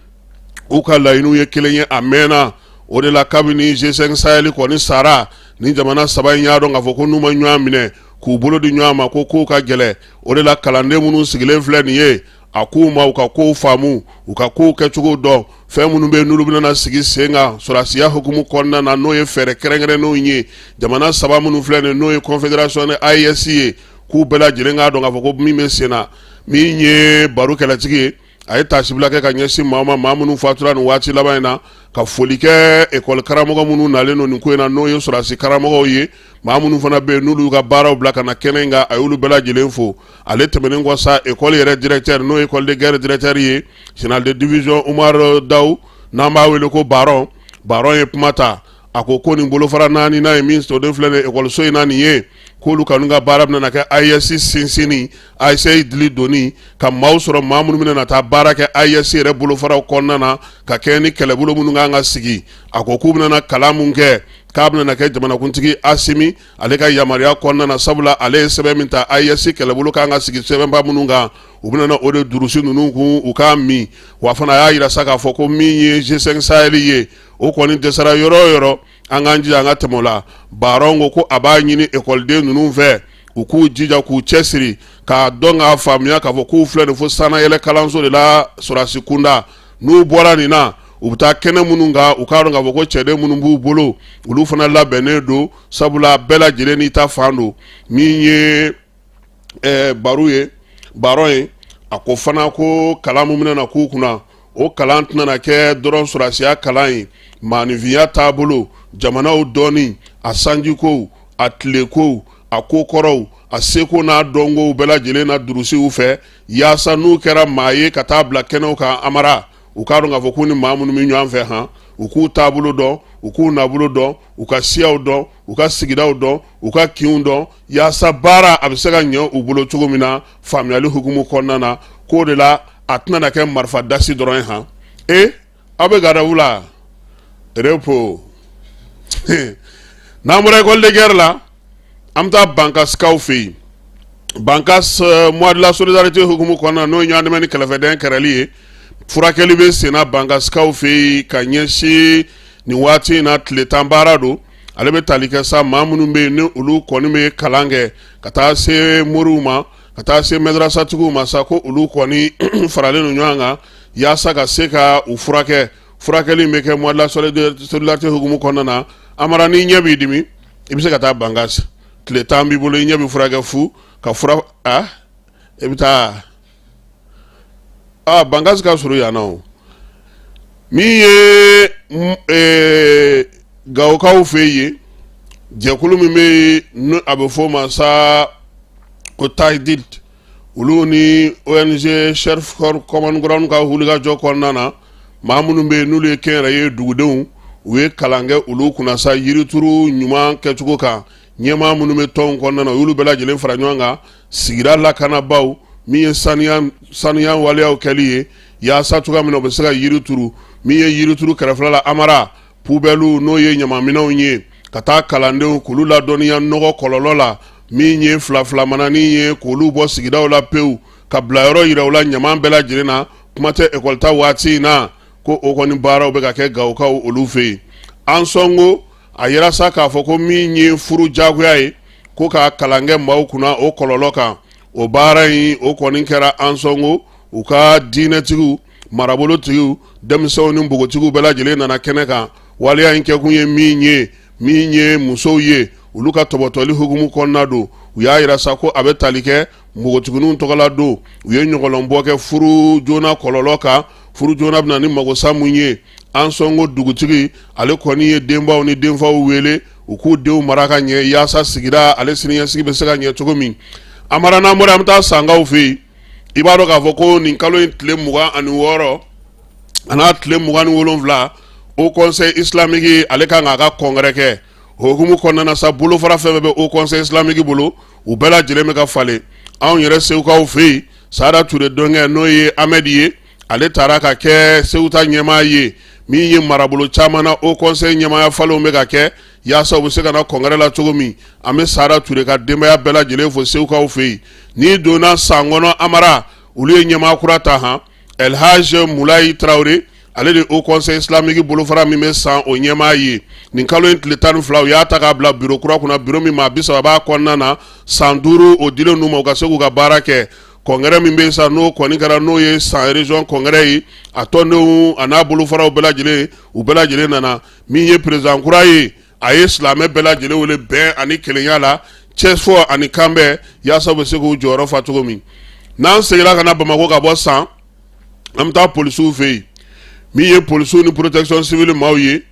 k'u ka laɲiniw ye kelen ye a mɛnna o de la kabini G5 Sahel kɔni sara ni jamana saba in y'a dɔn k'a fɔ ko n'u ma ɲɔgɔn minɛ k'u bolo di ɲɔgɔn ma ko kow ka gɛlɛ o de la kalanden minnu sigilen filɛ nin ye a k'u ma u ka kow faamu u ka kow kɛcogo dɔn fɛn minnu bɛ n'olu bɛna sigi sen kan sɔrɔsiya hukumu kɔnɔna na n'o ye fɛɛrɛ kɛrɛnkɛrɛnnenw ye jamana saba minnu filɛ nin n'o ye confédération ni AES ye k'u bɛɛ lajɛlen k'a dɔn k'a fɔ ko min bɛ sen na min ye Baru kɛlɛtigi ye a ye taasibila kɛ ka ɲɛsin maa ma maa minnu fatura nin waati laban in na ka foli kɛ ekɔli karamɔgɔ minnu nalen don nin ko in na n'o ye sɔrɔsi karamɔgɔw ye maa minnu fana bɛ yen n'olu ka baaraw bila ka na kɛnɛ in kan a y'olu bɛɛ lajɛlen fo ale tɛmɛnen kɔ sa ekɔli yɛrɛ directeur n'o ye école de guerre directeur ye général de division Umar Daw n'an b'a wele ko Baron Baron ye kuma ta a ko ko nin bolofara naaninan in min soden filɛ nin ye ekɔliso in na nin ye k'olu kɔni ka baara bɛna na kɛ AES sinsinni AES dili donni ka maaw sɔrɔ maa minnu bɛna na taa baara kɛ AES yɛrɛ bolofaraw kɔnɔna na ka kɛɲɛ ni kɛlɛbolo minnu kan ka sigi a ko k'u bɛna kalan min kɛ k'a bɛna kɛ jamanakuntigi Asimi ale ka yamaruya kɔnɔna na sabula ale ye sɛbɛn min ta AES kɛlɛbolo kan ka sigi sɛbɛnba minnu kan u bɛna o de durusi ninnu kun u k'a min wa fana a y'a yira sa k'a fɔ ko min ye G5 Sahel ye o kɔni dɛsɛra yɔrɔ o yɔrɔ an k'an jija an ka tɛmɛ o la Baron ko ko a b'a ɲini ekɔliden ninnu fɛ u k'u jija k'u cɛsiri k'a dɔn k'a faamuya k'a fɔ k'u filɛ nin fo sanayɛlɛ kalanso de la sɔrɔsi kunda n'u bɔra nin na u bɛ taa kɛnɛ minnu kan u k'a dɔn k'a fɔ ko cɛden minnu b'u bolo olu fana labɛnnen don sabula bɛɛ lajɛlen n'i ta fan don min ye ɛɛ baro ye barɔn ye a ko fana ko kalan min bɛna na k'u kunna o kalan tɛna na kɛ dɔrɔn sɔrɔdasiya kalan ye maaninfinya taabolo jamanaw dɔnni a sanjikow a tilekow a kokɔrɔw a seko n'a dɔnkow bɛɛ lajɛlen na durusiw fɛ yaasa n'u kɛra maa ye ka taa bila kɛnɛw kan amara u k'a dɔn k'a fɔ k'u ni maa minnu bɛ ɲɔgɔn fɛ han u k'u taabolo dɔn u k'u nabolo dɔn u ka siyaw dɔn u ka sigidaw dɔn u ka kinw dɔn Yaasa baara a bɛ se ka ɲɛ u bolo cogo min na faamuyayali hukumu kɔnɔna na k'o de la a tɛna na kɛ marifa dasi dɔrɔn ye han e aw bɛ garde-à-vous la repos n'an bɔra école de guerre la an bɛ taa bankaskaw fɛ yen bankas mois de la solidarité hukumu kɔnɔna n'o ye ɲɔgɔndɛmɛ ni kɛrɛfɛdɛn kɛlɛli ye furakɛli bɛ senna bankaskaw fɛ yen ka ɲɛsin nin waati in na tile tan baara don ale bɛ tali kɛ sa maa minnu bɛ yen ni olu kɔni bɛ kalan kɛ ka taa se moriw ma ka taa se madrasatigiw ma sa ko olu kɔni faralen don ɲɔgɔn kan yaasa ka se ka u furakɛ furakɛli bɛ kɛ mois de la solidarité hukumu kɔnɔna na amara n'i ɲɛ b'i dimi i bɛ se ka taa bankas tile tan b'i bolo i ɲɛ bɛ furakɛ fu ka fura a i bɛ taa aa Bankas ka surun yan na min ye ee Gawokaw fɛ yen jɛkulu min bɛ yen a bɛ f'o ma sa ko Taidid olu ni ONG Search for Common Ground ka wulikajɔ kɔnɔna na maa minnu bɛ yen n'olu ye kɛnyɛrɛye dugudenw u ye kalan kɛ olu kunna sa yirituru ɲuman kɛcogo kan ɲɛmaa minnu bɛ tɔnw kɔnɔna na u y'olu bɛɛ lajɛlen fara ɲɔgɔn kan sigida lakanabaaw min ye saniya waleyaw kɛli ye yaasa cogoya min na u bɛ se ka yiri turu min ye yirituru kɛrɛfɛla la amara pubɛliw n'o ye ɲamanminɛnw ye ka taa kalandenw k'olu ladɔnniya nɔgɔ kɔlɔlɔ la min ye filafilamananin ye k'olu bɔ sigidaw la pewu k'a bilayɔrɔ yira u la ɲaman bɛɛ lajɛlen na kuma tɛ ekɔlita waati in na ko o kɔni baaraw bɛ ka kɛ gawokaw olu fɛ yen ansɔngo a yira sa k'a fɔ ko min ye furu jagoya ye ko k'a kalan kɛ maaw kunna o kɔlɔlɔ kan o baara in o kɔni kɛra ansɔngo u ka diinɛtigiw marabolotigiw denmisɛnw ni npogotigiw bɛɛ lajɛlen nana kɛnɛ kan waleya in kɛkun ye min ye min ye musow ye olu ka tɔbɔtɔli hukumu kɔnɔna don u y'a yira sa ko a bɛ tali kɛ npogotigininw tɔgɔla don u ye ɲɔgɔlɔnbɔ kɛ furu joona kɔlɔlɔ kan furu joona bɛna ni magosa mun ye Ansongo dugutigi ale kɔni ye denbaw ni denfaw wele u k'u denw mara ka ɲɛ yaasa sigida ale siniɲɛsigi bɛ se ka ɲɛ cogo min Amara n'an bɔra an bɛ taa sankaw fɛ yen i b'a dɔn k'a fɔ ko nin kalo in tile mugan ani wɔɔrɔ a n'a tile mugan ni wolonwula Haut Conseil islamique ale kan k'a ka congrès kɛ o hukumu kɔnɔna na sa bolofara fɛn bɛ Haut Conseil islamique bolo u bɛɛ lajɛlen bɛ ka falen anw yɛrɛ segukaw fɛ yen Sada Ture dɔgɔkɛ n'o ye Ahmed ye ale taara ka kɛ Segu ta ɲɛmaa ye min ye marabolo caman na Haut Conseil ɲɛmaaya falenw bɛ ka kɛ yaasa u bɛ se ka na congrès la cogo min an bɛ Sada Ture ka denbaya bɛɛ lajɛlen fo segukaw fɛ yen n'i donna san kɔnɔ amara olu ye ɲɛmaa kura ta han El Hadj Mulayi Tarawele ale de Haut Conseil islamique bolofara min bɛ san o ɲɛmaa ye nin kalo in tile tan ni fila u y'a ta k'a bila biro kura kunna biro min maa bi saba b'a kɔnɔna na san duuru o dilen ninnu ma u ka se k'u ka baara kɛ congrès min bɛ sa n'o kɔni kɛra n'o ye San région congrès ye a tɔndenw a n'a bolofaraw bɛɛ lajɛlen u bɛɛ lajɛlen nana min ye président kura ye a ye silamɛ bɛɛ lajɛlen wele bɛn ani kelenya la cɛ fɔ ani kanbɛn yaasa u bɛ se k'u jɔyɔrɔ fa cogo min n'an seginna ka na bamakɔ ka bɔ san an bɛ taa polisiw fɛ yen min ye polisiw ni protection civile maaw ye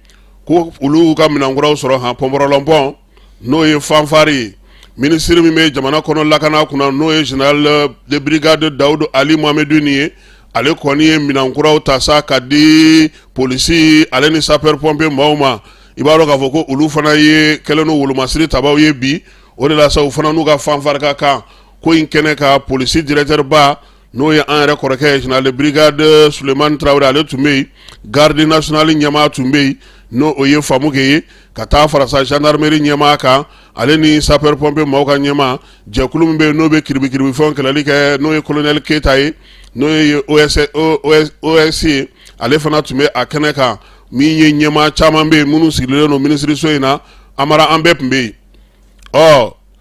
ko olu ka minɛnkuraw sɔrɔ han pɔnpɔrɔlɔnpɔn n'o ye fanfari ye minisiri min bɛ jamana kɔnɔ lakana kunna n'o ye général de brigade Daoud Aly Mohammedine ye ale kɔni ye minɛn kuraw ta sa ka di polisi ale ni sapeur pompier maaw ma i b'a dɔn k'a fɔ ko olu fana ye kɛlɛ ni wolomasiri tabaw ye bi o de la sa u fana n'u ka fanfari ka kan ko in kɛnɛ kan polisi directeur ba n'o ye an yɛrɛ kɔrɔkɛ ye général de brigade Sulemani Tarawele ale tun bɛ yen garde nationale ɲɛmaa tun bɛ yen n'o o ye Famuke ye ka taa fara sa gendarmerie ɲɛmaa kan ale ni sapeur pompier maaw ka ɲɛmaa jɛkulu min bɛ yen n'o bɛ kiribikiribifɛnw kɛlɛli kɛ n'o ye colonel Keyita ye n'o ye OCS ye ale fana tun bɛ a kɛnɛ kan min ye ɲɛmaa caman bɛ yen minnu sigilen don minisiriso in na Amara an bɛɛ tun bɛ yen ɔ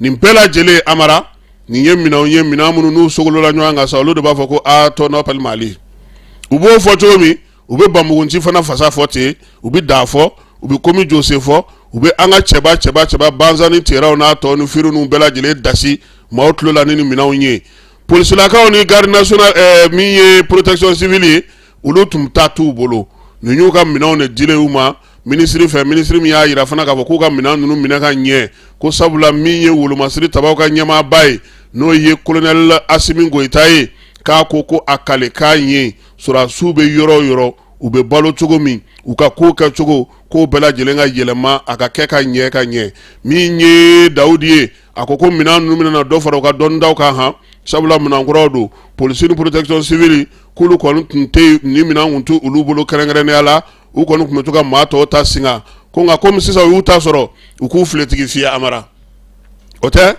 nin bɛɛ lajɛlen amara nin ye minɛnw ye minɛn minnu n'u sogolola ɲɔgɔn kan sa olu de b'a fɔ ko à ton appel Mali u b'o fɔ cogo min u bɛ Banbugu Nci fana fasa fɔ ten u bɛ Da fɔ u bɛ Komi Jose fɔ u bɛ an ka cɛba cɛba cɛba Bazani Teraw n'a tɔ ni Firhun ninnu bɛɛ lajɛlen dasi maaw tulo la ni ni minɛnw ye polisilakaw ni garde nationale ɛɛ eh, min ye protection civile ye olu tun ta t'u bolo ninnu y'u ka minɛnw de dilen u ma minisiri fɛ minisiri min y'a yira fana k'a fɔ k'u ka minɛn ninnu minɛ ka ɲɛ ko sabula min ye wolomasiri tabaw ka ɲɛmaaba ye n'o ye kolonɛli asimi goyita ye k'a ko ko a kale k'a ye sɔrɔdasiw bɛ yɔrɔ o yɔrɔ u bɛ balo cogo min u ka kow kɛ cogo k'o bɛɛ lajɛlen ka yɛlɛma a ka kɛ ka ɲɛ ka ɲɛ min ye dawudi ye a ko ko minɛn ninnu bɛna dɔ fara u ka dɔnnidaw kan han sabula minɛn kuraw don polisi ni protection civile k'olu kɔni tun tɛ nin minɛn tun tɛ olu bolo kɛrɛnkɛrɛnnenya la u kɔni tun bɛ to ka maa tɔw ta singa ko nka kɔmi sisan u y'u ta sɔrɔ u k'u filetigi fiyɛ amara o tɛ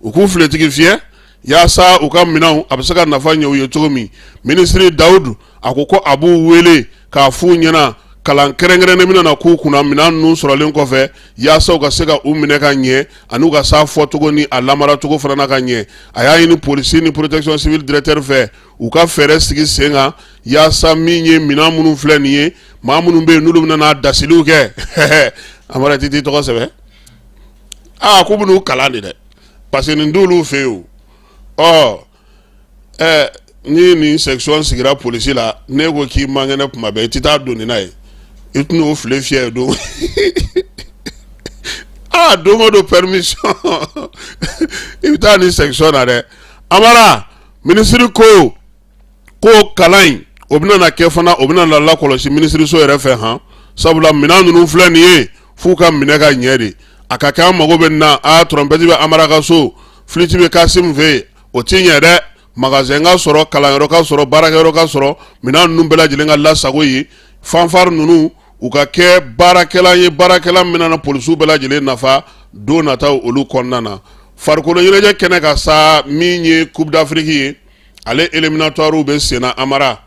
u k'u filetigi fiyɛ yaasa u ka minɛnw a bɛ se ka nafa ɲɛ u ye cogo min minisiri dawudu a ko ko a b'u wele k'a f'u ɲɛna kalan kɛrɛnkɛrɛnnen bɛna na k'u kunna minɛn ninnu sɔrɔlen kɔfɛ yaasa u ka se ka u minɛ ka ɲɛ ani u ka s'a fɔcogo ni a lamara cogo fana na ka ɲɛ a y'a ɲini polisi ni protection civile directeur fɛ u ka fɛɛrɛ sigi sen kan yaasa min ye minɛn minnu filɛ nin ye maa minnu bɛ yen n'olu bɛna na dasiliw kɛ amara i t'i tɔgɔ sɛbɛn aa k'u bɛn'u kalan de dɛ parce que nin t'olu fɛ yen o ɔ ɛɛ ni nin section sigira polisi la ne ko k'i man kɛnɛ kuma bɛɛ i tɛ taa don nin na yen i tɛna o file fiyɛ don aa don o don permission i bɛ taa nin section na dɛ amara. minisiri ko ko kalan in o bɛna na kɛ fana o bɛna na lakɔlɔsi minisiriso yɛrɛ fɛ han sabula minɛn ninnu filɛ nin ye f'u ka minɛ ka ɲɛ de a ka kɛ an mago bɛ nin na a tɔrɔnpɛti bɛ amara ka so filiti bɛ kasim fɛ yen o ti ɲɛ dɛ magasɛn ka sɔrɔ kalanyɔrɔ ka sɔrɔ baarakɛyɔrɔ ka sɔrɔ minɛn ninnu bɛɛ lajɛlen ka lasago yen fanfari ninnu u ka kɛ baarakɛlan ye baarakɛlan min na polisiw bɛɛ lajɛlen nafa don nataw olu kɔnɔna na farikolo ɲɛnajɛ kɛnɛ kan sa min ye coupe d'afrique ye ale éliminatoires bɛ senna amara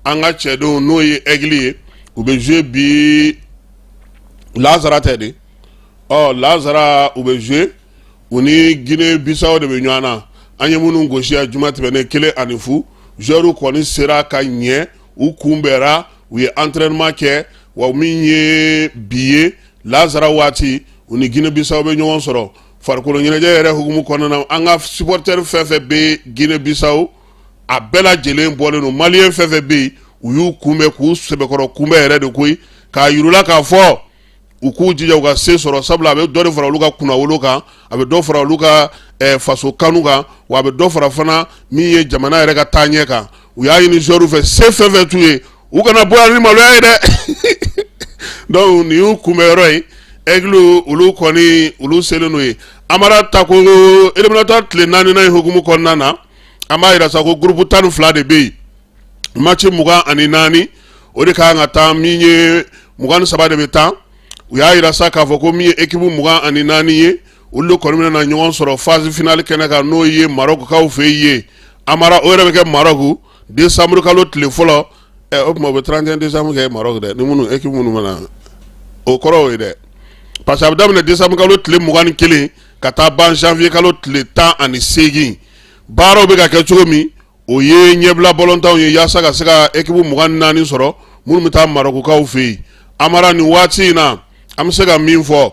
an ka cɛdenw n'o ye aigle ye u bɛ jouer bi lasara tɛ de ɔ lasara u bɛ jouer u ni Guinée Bissau de bɛ ɲɔgɔn na an ye minnu gosi a juma tɛmɛnnen kelen ani fu joueurs kɔni sera ka ɲɛ u kunbɛra u ye entraînement kɛ wa min ye bi ye lazara waati u ni Guinée Bissau bɛ ɲɔgɔn sɔrɔ farikolo ɲɛnajɛ yɛrɛ hukumu kɔnɔna na an ka supporter fɛn fɛn bɛ Guinée Bissau a bɛɛ lajɛlen bɔlen don maliyɛn fɛn fɛn bɛ yen u y'u kunbɛn k'u sɛbɛkɔrɔ kunbɛn yɛrɛ de koyi k'a yir'u la k'a fɔ u k'u jija u ka se sɔrɔ sabula a bɛ dɔ de fara olu ka kunnawolo kan a bɛ dɔ fara olu ka eh, faso kanu kan wa a bɛ dɔ fara fana min ye jamana yɛrɛ ka taaɲɛ kan u y'a ɲini joueurs fɛ se fɛn fɛn t'u ye u kana bɔ yan ni maloya ye dɛ donc nin y'u kunbɛn yɔrɔ ye aigle olu kɔni olu selen n'o ye amara ta ko eliminatoire tile naaninan ye hukumu kɔnɔna na an b'a yira sa ko gurupu tan ni fila de bɛ yen match mugan ani naani o de kan ka taa min ye mugan ni saba de bɛ taa u y'a yira sa k'a fɔ ko min ye ekipu mugan ani naani ye olu de kɔni bɛna ɲɔgɔn sɔrɔ phase finale kɛnɛ kan n'o ye Maroc kaw fɛ yen amara o yɛrɛ bɛ kɛ Maroc décembre kalo tile fɔlɔ ɛ eh, o tuma u bɛ 31 décembre kɛ Maroc dɛ ni minnu ekipu minnu mana o kɔrɔ o ye dɛ parce que a bɛ daminɛ décembre kalo tile mugan ni kelen ka taa ban janvier kalo tile tan ani seegin baaraw bɛ ka kɛ cogo min o ye ɲɛbila bɔlɔntanw ye yaasa ka se ka ekipu mugan ni naani sɔrɔ minnu bɛ taa marɔkukaw fɛ yen amara nin waati in na an bɛ se ka min fɔ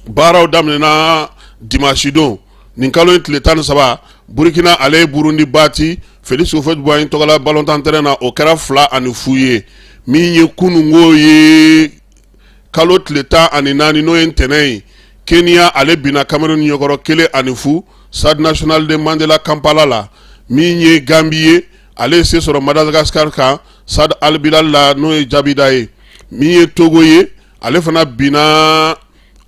baaraw daminɛna dimasidon nin kalo in tile tan ni saba burukina ale ye burundi bati félix houphouët-boigny tɔgɔla balontan tɛrɛn na o kɛra fila ani fu ye min ye kunungo ye kalo tile tan ani naani n'o ye ntɛnɛn ye keniya ale binna kamerun ɲɛkɔrɔ kelen ani fu stade national de mandela kampala la min ye gambi ye ale ye se sɔrɔ madagascar kan stade albilal la n'o ye jabida ye min ye togo ye ale fana binna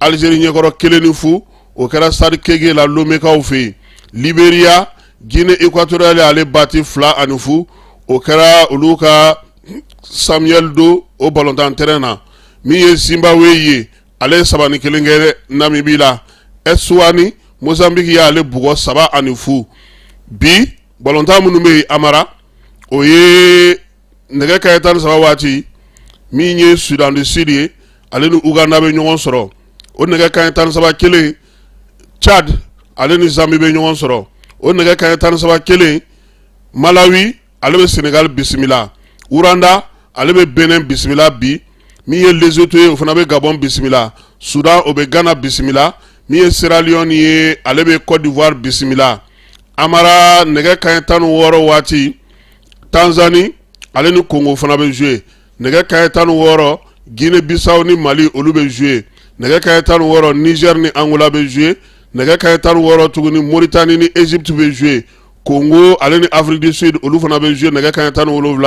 algérie ɲɛkɔrɔ kelen ni fu o kɛra stade kege la lomekaw fɛ yen liberia guinée équatoriale y'ale bati fila ani fu o kɛra olu ka samuel doe o balontan tɛrɛn na min ye zimbabwe ye ale ye saba ni kelen kɛ namibi la ɛsuwatini mozanbiki y'ale bugɔ saba ani fu bi balontan minnu bɛ yen amara o ye nɛgɛ kaɲɛ tan ni saba waati min ye sudan du sud ye ale ni uganda bɛ ɲɔgɔn sɔrɔ o nɛgɛ kaɲɛ tan ni saba kelen tchad ale ni zambi bɛ ɲɔgɔn sɔrɔ o nɛgɛ kaɲɛ tan ni saba kelen malawi ale bɛ senegali bisimila rwanda ale bɛ benin bisimila bi min ye lesoto ye o fana bɛ gabɔn bisimila sudan o bɛ gana bisimila min ye seraliyɔn ye ale bɛ kɔdiwari bisimila amara nɛgɛ kaɲɛ tan ni wɔɔrɔ waati tanzani ale ni kongo fana bɛ zuye nɛgɛ kaɲɛ tan ni wɔɔrɔ gine bisaw ni mali olu bɛ zuye nɛgɛ kaɲɛ tan ni wɔɔrɔ nizɛr ni angola bɛ zuye nɛgɛ kaɲɛ tan ni wɔɔrɔ tuguni moritani ni ezipti bɛ zuye kongo ale ni afiriki du sud olu fana bɛ zuye nɛgɛ kaɲɛ tan ni wolonwula